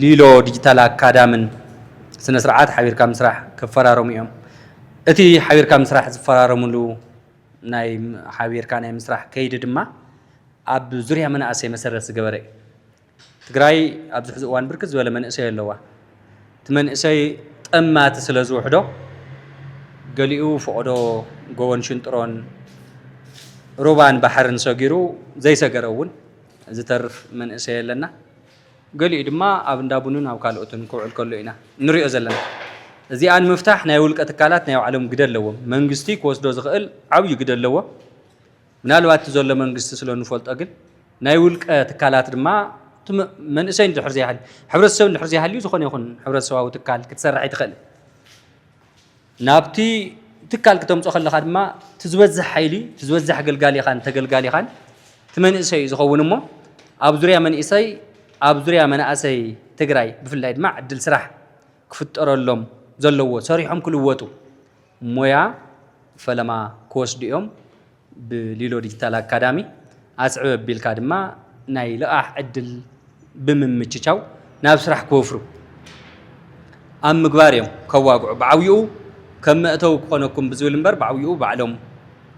ሊሎ ዲጂታል ኣካዳምን ስነስርዓት ሓቢርካ ምስራሕ ክፈራረሙ እዮም። እቲ ሓቢርካ ምስራሕ ዝፈራረምሉ ናይ ሓቢርካ ናይ ምስራሕ ከይዲ ድማ ኣብ ዙርያ መናእሰይ መሰረት ዝገበረ እዩ። ትግራይ ኣብዚ ሕዚ እዋን ብርክት ዝበለ መንእሰይ ኣለዋ። እቲ መንእሰይ ጠማቲ ስለ ዝውሕዶ ገሊኡ ፈቐዶ ጎቦን ሽንጥሮን ሩባን ባሕርን ሰጊሩ ዘይሰገረ እውን ዝተርፍ መንእሰይ ኣለና። ገሊኡ ድማ ኣብ እንዳ ቡንን ኣብ ካልኦትን ክውዕል ከሎ ኢና ንሪኦ ዘለና። እዚኣ ንምፍታሕ ናይ ውልቀ ትካላት ናይ ባዕሎም ግደ ኣለዎም። መንግስቲ ክወስዶ ዝኽእል ዓብዩ ግደ ኣለዎ። ምናልባት እቲ ዘሎ መንግስቲ ስለ እንፈልጦ ግን ናይ ውልቀ ትካላት ድማ መንእሰይ እንድሕር ዘይሃልዩ ሕብረተሰብ እንድሕር ዘይሃልዩ ዝኾነ ይኹን ሕብረተሰባዊ ትካል ክትሰርሕ ኣይትኽእልን። ናብቲ ትካል ክተምጾ ከለኻ ድማ እቲ ዝበዝሕ ሓይሊ እቲ ዝበዝሕ ኣገልጋሊኻን ተገልጋሊኻን እቲ መንእሰይ እዩ ዝኸውን እሞ ኣብ ዙርያ መንእሰይ ኣብ ዙርያ መናእሰይ ትግራይ ብፍላይ ድማ ዕድል ስራሕ ክፍጠረሎም ዘለዎ ሰሪሖም ክልወጡ ሞያ ፈለማ ክወስዱ እዮም። ብሊሎ ዲጂታል ኣካዳሚ ኣስዕብ ኣቢልካ ድማ ናይ ልቓሕ ዕድል ብምምችቻው ናብ ስራሕ ክወፍሩ ኣብ ምግባር እዮም ከዋግዑ ብዓብይኡ ከም መእተዊ ክኾነኩም ብዝብል እምበር ብዓብይኡ ባዕሎም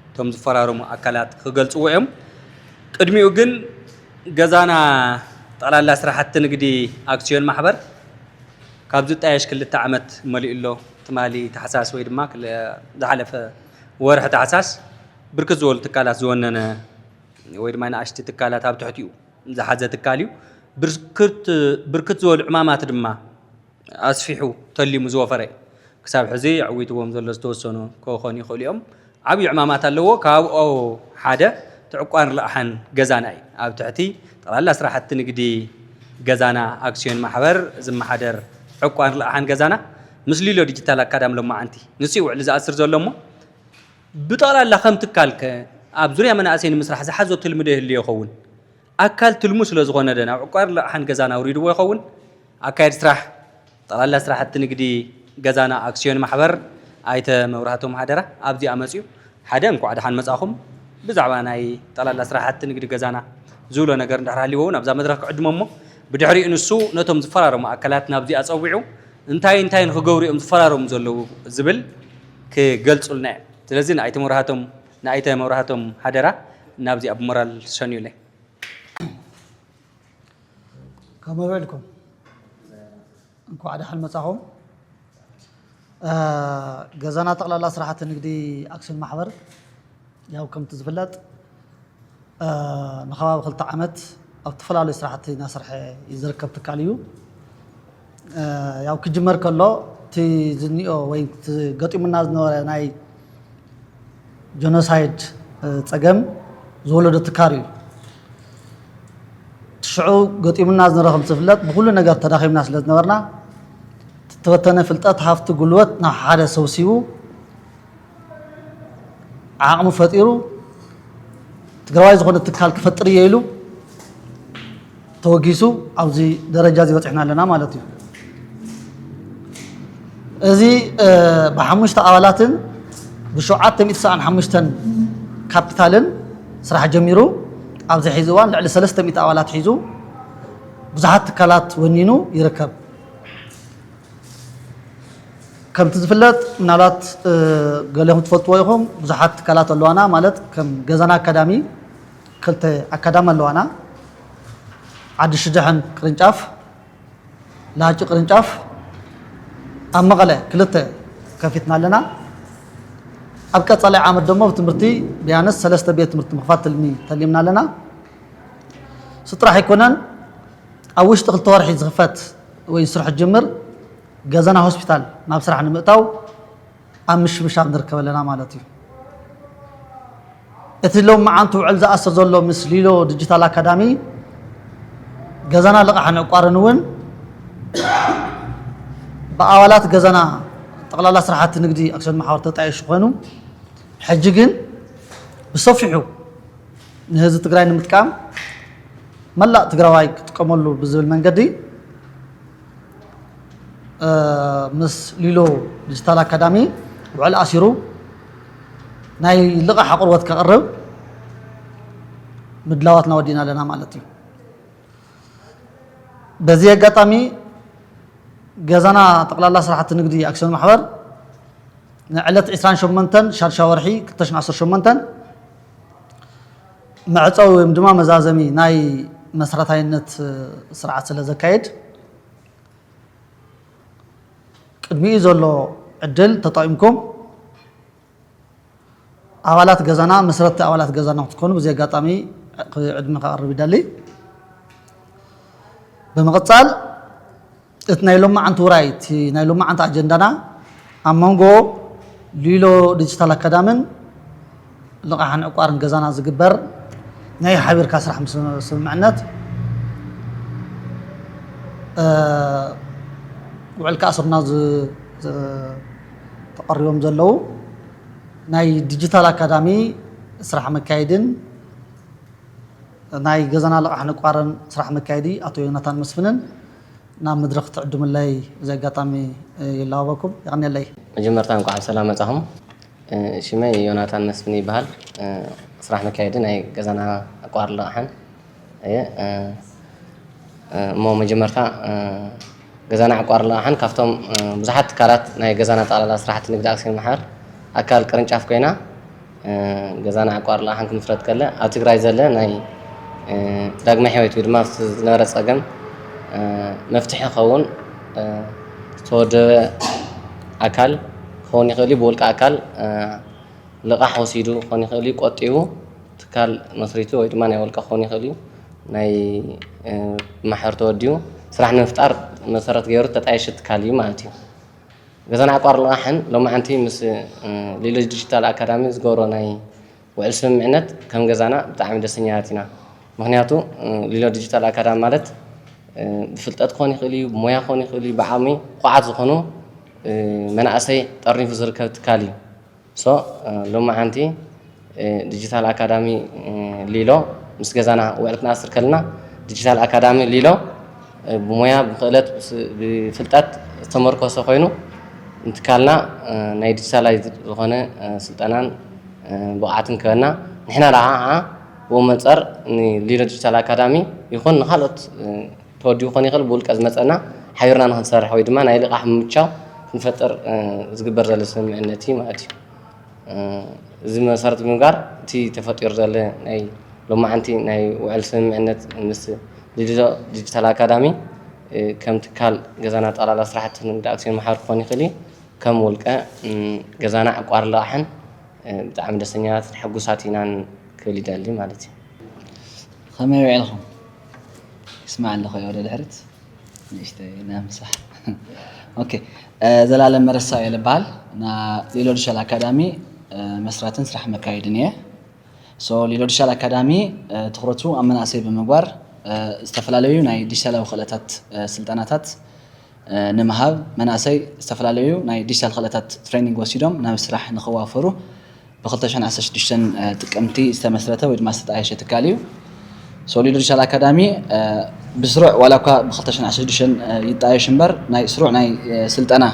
እቶም ዝፈራረሙ ኣካላት ክገልፅዎ እዮም። ቅድሚኡ ግን ገዛና ጠቕላላ ስራሕቲ ንግዲ ኣክሲዮን ማሕበር ካብ ዝጣየሽ ክልተ ዓመት መሊኡ ኣሎ። ትማሊ ታሕሳስ ወይ ድማ ዝሓለፈ ወርሒ ታሕሳስ ብርክት ዝበሉ ትካላት ዝወነነ ወይ ድማ ንኣሽቲ ትካላት ኣብ ትሕቲኡ ዝሓዘ ትካል እዩ። ብርክት ብርክት ዝበሉ ዕማማት ድማ ኣስፊሑ ተሊሙ ዝወፈረ እዩ። ክሳብ ሕዚ ኣዕዊትዎም ዘሎ ዝተወሰኑ ክኾኑ ይኽእሉ እዮም። ዓብዪ ዕማማት ኣለዎ። ካብኦ ሓደ እቲ ዕቋን ረቕሓን ገዛና እዩ። ኣብ ትሕቲ ጠቕላላ ስራሕቲ ንግዲ ገዛና ኣክስዮን ማሕበር ዝመሓደር ዕቋን ረቕሓን ገዛና ምስ ሊሎ ዲጂታል ኣካዳሚ ሎማዓንቲ ንሱ እዩ ውዕሊ ዝኣስር ዘሎ እሞ ብጠቕላላ ከም ትካል ከ ኣብ ዙርያ መናእሰይ ንምስራሕ ዝሓዞ ትልሚ ዶ ይህሉ ይኸውን? ኣካል ትልሙ ስለ ዝኾነ ዶ ናብ ዕቋርን ልቓሕን ገዛን ኣውሪድዎ ይኸውን? ኣካየድ ስራሕ ጠቕላላ ስራሕቲ ንግዲ ገዛና ኣክስዮን ማሕበር ኣይተ መብራህቶም ሃደራ ኣብዚኣ መፅዩ ሓደ እንኳዕ ደሓን መፃእኹም ብዛዕባ ናይ ጠቕላላ ስራሕቲ ንግዲ ገዛና ዝብሎ ነገር እንድሕር ሃልይዎ እውን ኣብዛ መድረኽ ክዕድሞ እሞ ብድሕሪኡ ንሱ ነቶም ዝፈራረሙ ኣካላት ናብዚኣ ፀዊዑ እንታይ እንታይ ንክገብሩ እዮም ዝፈራረሙ ዘለዉ ዝብል ክገልፁልና እዮም። ስለዚ ንኣይተ መብራህቶም ንኣይተ መብራህቶም ሓደራ ናብዚኣ ብሞራል ሸኙለይ። ከመይ ውዒልኩም? እንኳዕ ደሓን መጻኹም። ገዛና ጠቕላላ ስራሕቲ ንግዲ ኣክስዮን ማሕበር ያው ከምቲ ዝፍለጥ ንከባቢ ክልተ ዓመት ኣብ ዝተፈላለዩ ስራሕቲ እናሰርሐ እዩ ዝርከብ ትካል እዩ። ያው ክጅመር ከሎ እቲ ዝኒኦ ወይ ገጢሙና ዝነበረ ናይ ጀኖሳይድ ፀገም ዝወለዶ ትካር እዩ። ሽዑ ገጢሙና ዝነበረ ከም ዝፍለጥ ብኩሉ ነገር ተዳኺምና ስለ ዝነበርና ዝተበተነ ፍልጠት ሃፍቲ ጉልበት ናብ ሓደ ሰብሲቡ ዓቕሚ ፈጢሩ ትግራዋይ ዝኾነ ትካል ክፈጥር እየ ኢሉ ተወጊሱ ኣብዚ ደረጃ እዚ በፂሕና ኣለና ማለት እዩ እዚ ብሓሙሽተ ኣባላትን ብሸውዓተ ሚእቲ ሰኣን ሓሙሽተን ካፒታልን ስራሕ ጀሚሩ ኣብዚ ሕዚ እዋን ልዕሊ ሰለስተ ሚእቲ ኣባላት ሒዙ ብዙሓት ትካላት ወኒኑ ይርከብ ከምቲ ዝፍለጥ ምናልባት ገሌኹም ትፈልጥዎ ኢኹም ብዙሓት ትካላት ኣለዋና ማለት ከም ገዛና ኣካዳሚ ክልተ ኣካዳሚ ኣለዋና ዓዲ ሽድሕን ቅርንጫፍ ላሃጭ ቅርንጫፍ ኣብ መቐለ ክልተ ከፊትና ኣለና ኣብ ቀፃላይ ዓመት ደሞ ትምህርቲ ቢያንስ ሰለስተ ቤት ትምህርቲ ምኽፋት ትልሚ ተሊምና ኣለና ስጥራሕ ኣይኮነን ኣብ ውሽጢ ክልተ ወርሒ ዝኽፈት ወይ ስርሑ ዝጅምር ገዘና ሆስፒታል ናብ ስራሕ ንምእታው ኣብ ምሽምሻብ ንርከብ ኣለና ማለት እዩ። እቲ ሎም መዓንቲ ውዕል ዝኣስር ዘሎ ምስ ሊሎ ዲጂታል ኣካዳሚ ገዘና ልቓሕን ዕቋርን እውን ብኣባላት ገዘና ጠቕላላ ስራሕቲ ንግዲ ኣክሲዮን ማሕበር ተጣየሹ ኮይኑ ሕጂ ግን ብሰፊሑ ንህዝቢ ትግራይ ንምጥቃም መላእ ትግራዋይ ክጥቀመሉ ብዝብል መንገዲ ምስ ሊሎ ዲጂታል ኣካዳሚ ውዕል ኣሲሩ ናይ ልቓሕ ኣቕርቦት ከቕርብ ምድላዋትና ወዲና ኣለና ማለት እዩ በዚ ኣጋጣሚ ገዛና ጠቅላላ ስራሕቲ ንግዲ ኣክሲዮን ማሕበር ንዕለት 28 ሻድሻ ወርሒ 2018 መዕፀዊ ወይም ድማ መዛዘሚ ናይ መሰረታይነት ስርዓት ስለ ዘካየድ ቅድሚኡ ዘሎ ዕድል ተጠቂምኩም ኣባላት ገዛና መስረትቲ ኣባላት ገዛና ክትኮኑ ብዚ ኣጋጣሚ ዕድመ ከቐርብ ይደሊ። ብምቕፃል እቲ ናይ ሎማዓንቲ ውራይ እቲ ናይ ሎማዓንቲ ኣጀንዳና ኣብ መንጎ ሊሎ ዲጂታል ኣካዳምን ልቓሕን ዕቋርን ገዛና ዝግበር ናይ ሓቢርካ ስራሕ ስምምዕነት ውዕል ክኣስሩና ተቐሪቦም ዘለዉ ናይ ዲጂታል ኣካዳሚ ስራሕ መካየድን ናይ ገዛና ልቓሕን ዕቋርን ስራሕ መካየዲ ኣቶ ዮናታን መስፍንን ናብ መድረኽ ትዕድሙለይ በዚ ኣጋጣሚ ይላወበኩም። የቐንየለይ። መጀመርታ እንኳዕ ብሰላም መፃኹም ሽመይ ዮናታን መስፍን ይበሃል ስራሕ መካየዲ ናይ ገዛና ኣቋር ልቓሕን እየ እሞ መጀመርታ ገዛና ኣቋር ልቓሕን ካብቶም ብዙሓት ትካላት ናይ ገዛና ጠቕላላ ስራሕቲ ንግዲ ኣክሲዮን ማሕበር ኣካል ቅርንጫፍ ኮይና ገዛ ንዓቋር ልቓሕን ክምስረት ከለ ኣብ ትግራይ ዘለ ናይ ዳግመ ሕይወት ወይ ድማ ዝነበረ ፀገም መፍትሒ ከውን ዝተወደበ ኣካል ክኸውን ይኽእል እዩ። ብውልቀ ኣካል ልቓሕ ወሲዱ ክኸውን ይኽእል እዩ። ቆጢቡ ትካል መስሪቱ ወይ ድማ ናይ ውልቀ ክኸውን ይኽእል እዩ። ናይ ማሕበር ተወዲቡ ስራሕ ንምፍጣር መሰረት ገይሩ ተጣየሸ ትካል እዩ ማለት እዩ። ገዛና ዕቋር ልቓሕን ሎማዕንቲ ምስ ሊሎጅ ዲጂታል ኣካዳሚ ዝገብሮ ናይ ውዕል ስምምዕነት ከም ገዛና ብጣዕሚ ደስተኛታት ኢና። ምኽንያቱ ሊሎ ዲጂታል ኣካዳሚ ማለት ብፍልጠት ክኾን ይኽእል እዩ፣ ብሞያ ክኾን ይኽእል እዩ፣ ብዓቕሚ ኩዓት ዝኾኑ መናእሰይ ጠርኒፉ ዝርከብ ትካል እዩ። So ሎማዓንቲ ዲጂታል ኣካዳሚ ሊሎ ምስ ገዛና ውዕል ክንኣስር ከለና ዲጂታል ኣካዳሚ ሊሎ ብሞያ ብክእለት ብፍልጠት ዝተመርኮሰ ኮይኑ ንትካልና ናይ ዲጂታላይዝድ ዝኾነ ስልጠናን ብቕዓትን ክህበና ንሕና ዳኣ ብኡ መንፀር ንሊሎ ዲጂታል ኣካዳሚ ይኹን ንካልኦት ተወዲቡ ክኾን ይኽእል ብውልቀ ዝመፀና ሓቢርና ንክንሰርሕ ወይ ድማ ናይ ልቓሕ ምምቻው ክንፈጥር ዝግበር ዘሎ ስምምዕነት እዩ ማለት እዩ። እዚ መሰረት ብምግባር እቲ ተፈጢሩ ዘሎ ናይ ሎማዓንቲ ናይ ውዕል ስምምዕነት ምስ ሊድዞ ዲጂታል ኣካዳሚ ከም ትካል ገዛና ጠቕላላ ስራሕቲ ንግድ ኣክሲዮን ማሕበር ክኾን ይኽእል እዩ ከም ውልቀ ገዛና ዕቋር ልቓሕን ብጣዕሚ ደስተኛታት ሕጉሳት ኢናን ክብል ይደሊ ማለት እዩ። ኸመይ ዊዒልኩም ይስማዕ ኣለኹ እየ ወደ ድሕርት ንእሽተይ ናምሳሕ ኦኬ ዘላለም መረሳ እየ ልበሃል ና ሊሎ ድሻል ኣካዳሚ መስራትን ስራሕ መካየድን እየ ሶ ሊሎ ድሻል ኣካዳሚ ትኩረቱ ኣብ መናእሰይ ብምግባር ዝተፈላለዩ ናይ ዲጂታላዊ ክእለታት ስልጠናታት ንምሃብ መናእሰይ ዝተፈላለዩ ናይ ዲጂታል ክእለታት ትሬኒንግ ወሲዶም ናብ ስራሕ ንክዋፈሩ ብ ክልተ ሽሕን ዓሰርተ ሽዱሽተን ጥቅምቲ ዝተመስረተ ወይ ድማ ዝተጣየሸ ትካል እዩ። ሶሊዶ ዲጂታል ኣካዳሚ ብስሩዕ ዋላ እኳ ብ ክልተ ሽሕን ዓሰርተ ሽዱሽተን ይጣየሽ እምበር ናይ ስሩዕ ናይ ስልጠና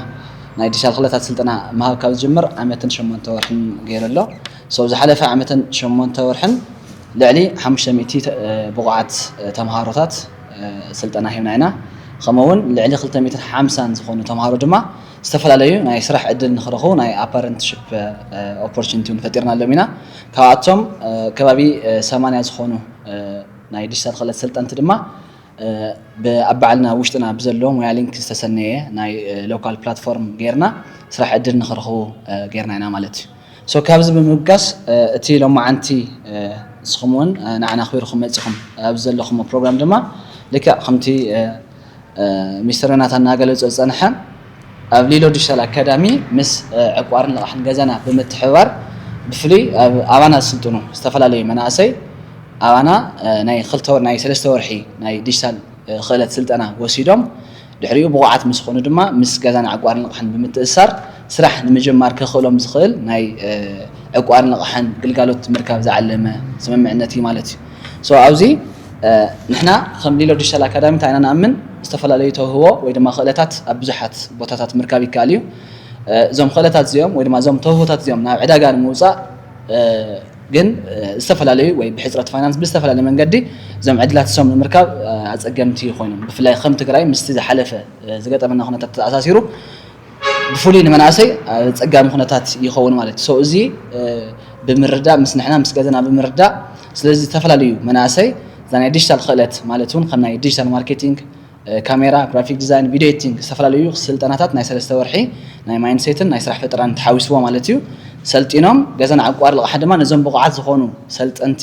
ናይ ዲጂታል ክእለታት ስልጠና ምሃብ ካብ ዝጅምር ዓመትን ሸሞንተ ወርሕን ገይሩ ኣሎ። ሶ ኣብ ዝሓለፈ ዓመትን ሸሞንተ ወርሕን ልዕሊ ሓሙሽተ ሚእቲ ብቑዓት ተምሃሮታት ስልጠና ሂብና ኢና። ከምኡ እውን ልዕሊ ክልተ ሚትን ሓምሳን ዝኾኑ ተምሃሮ ድማ ዝተፈላለዩ ናይ ስራሕ ዕድል ንክረኽቡ ናይ ኣፓረንትሽፕ ኦፖርቹኒቲ እውን ፈጢርናሎም ኢና። ካብኣቶም ከባቢ ሰማንያ ዝኾኑ ናይ ዲጂታል ክእለት ሰልጠንቲ ድማ ብኣብ ባዕልና ውሽጥና ብዘሎ ሙያ ሊንክ ዝተሰነየ ናይ ሎካል ፕላትፎርም ገይርና ስራሕ ዕድል ንክረኽቡ ገይርና ኢና ማለት እዩ። So ካብዚ ብምብጋስ እቲ ሎማዓንቲ ንስኹም ውን ንዓና ኣኽቢርኹም መጺኹም ኣብዚ ዘለኹሞ ፕሮግራም ድማ ልክዕ ከምቲ ሚስተር ዮናታን እናገለጾ ዝጸንሐ ኣብ ሊሎ ዲጂታል ኣካዳሚ ምስ ዕቋርን ልቓሕን ገዛና ብምትሕብባር ብፍሉይ ኣባና ዝስልጥኑ ዝተፈላለዩ መናእሰይ ኣባና ናይ ክልተ ናይ ሰለስተ ወርሒ ናይ ዲጂታል ክእለት ስልጠና ወሲዶም ድሕሪኡ ብቑዓት ምስ ኾኑ ድማ ምስ ገዛን ዕቋርን ልቓሕን ብምትእስሳር ስራሕ ንምጅማር ከኽእሎም ዝኽእል ናይ ዕቋርን ልቓሕን ግልጋሎት ንምርካብ ዝዓለመ ስምምዕነት እዩ ማለት እዩ። So ኣብዚ ንሕና ከም ሊሎ ዲጂታል ኣካዳሚ እንታይ ኢና ንኣምን ዝተፈላለዩ ተውህቦ ወይ ድማ ክእለታት ኣብ ብዙሓት ቦታታት ምርካብ ይከኣል እዩ። እዞም ክእለታት እዚኦም ወይ ድማ እዞም ተውህቦታት እዚኦም ናብ ዕዳጋ ንምውፃእ ግን ዝተፈላለዩ ወይ ብሕፅረት ፋይናንስ ብዝተፈላለየ መንገዲ እዞም ዕድላት እሶም ንምርካብ ኣፀገምቲ ኮይኖም ብፍላይ ከም ትግራይ ምስቲ ዝሓለፈ ዝገጠመና ኩነታት ተኣሳሲሩ ብፍሉይ ንመናእሰይ ኣፀጋሚ ኩነታት ይኸውን ማለት እዩ እዚ ብምርዳእ ምስ ንሕና ምስ ገዘና ብምርዳእ ስለዚ ዝተፈላለዩ መናእሰይ እዛ ናይ ዲጂታል ክእለት ማለት እውን ከም ናይ ዲጂታል ማርኬቲንግ ካሜራ፣ ግራፊክ ዲዛይን፣ ቪድዮ ኤዲቲንግ ዝተፈላለዩ ስልጠናታት ናይ ሰለስተ ወርሒ ናይ ማይንድሴትን ናይ ስራሕ ፈጠራን ተሓዊስዎ ማለት እዩ ሰልጢኖም ገዘን ዓቋር ልቓሕ ድማ ነዞም ብቑዓት ዝኾኑ ሰልጠንቲ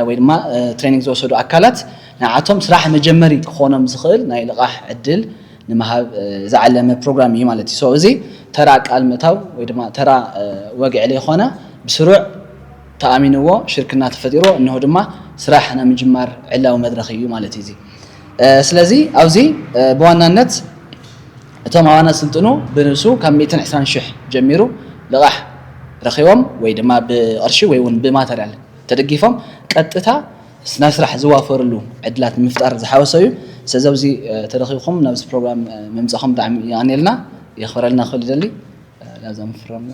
ወይ ድማ ትሬኒንግ ዝወሰዱ ኣካላት ንዓቶም ስራሕ መጀመሪ ክኾኖም ዝኽእል ናይ ልቓሕ ዕድል ንምሃብ ዝዓለመ ፕሮግራም እዩ ማለት እዩ ሶ እዚ ተራ ቃል ምእታው ወይ ድማ ተራ ወግዒ ለይኾነ ብስሩዕ ተኣሚንዎ ሽርክና ተፈጢርዎ እነሆ ድማ ስራሕ ናይ ምጅማር ዕላዊ መድረኽ እዩ ማለት እዩ እዚ ስለዚ ኣብዚ ብዋናነት እቶም ኣባና ስልጥኑ ብንብሱ ካብ ሚእትን ዕስራን ሽሕ ጀሚሩ ልቓሕ ረኺቦም ወይ ድማ ብቕርሺ ወይ እውን ብማተርያል ተደጊፎም ቀጥታ ናብ ስራሕ ዝዋፈርሉ ዕድላት ንምፍጣር ዝሓወሰ እዩ። ስለዚ ኣብዚ ተረኺብኩም ናብዚ ፕሮግራም ምምጻኹም ብጣዕሚ የቐንየልና የኽብረልና ክብል ይደሊ። ላዛ ምፍራምና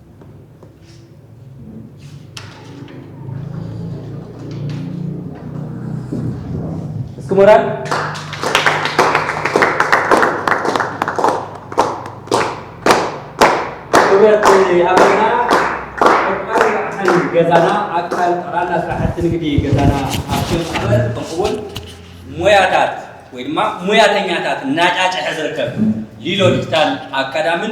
እስኪ ሞራል ክብረት ኣቦና ወርቃዊ ራዕሰን ገዛና ኣካል ጠቕላላ ስራሕቲ ንግዲ ገዛና ሃብቶም ኣበር ከምኡውን ሞያታት ወይ ድማ ሙያተኛታት እናጫጨሐ ዝርከብ ሊሎ ዲጂታል ኣካዳምን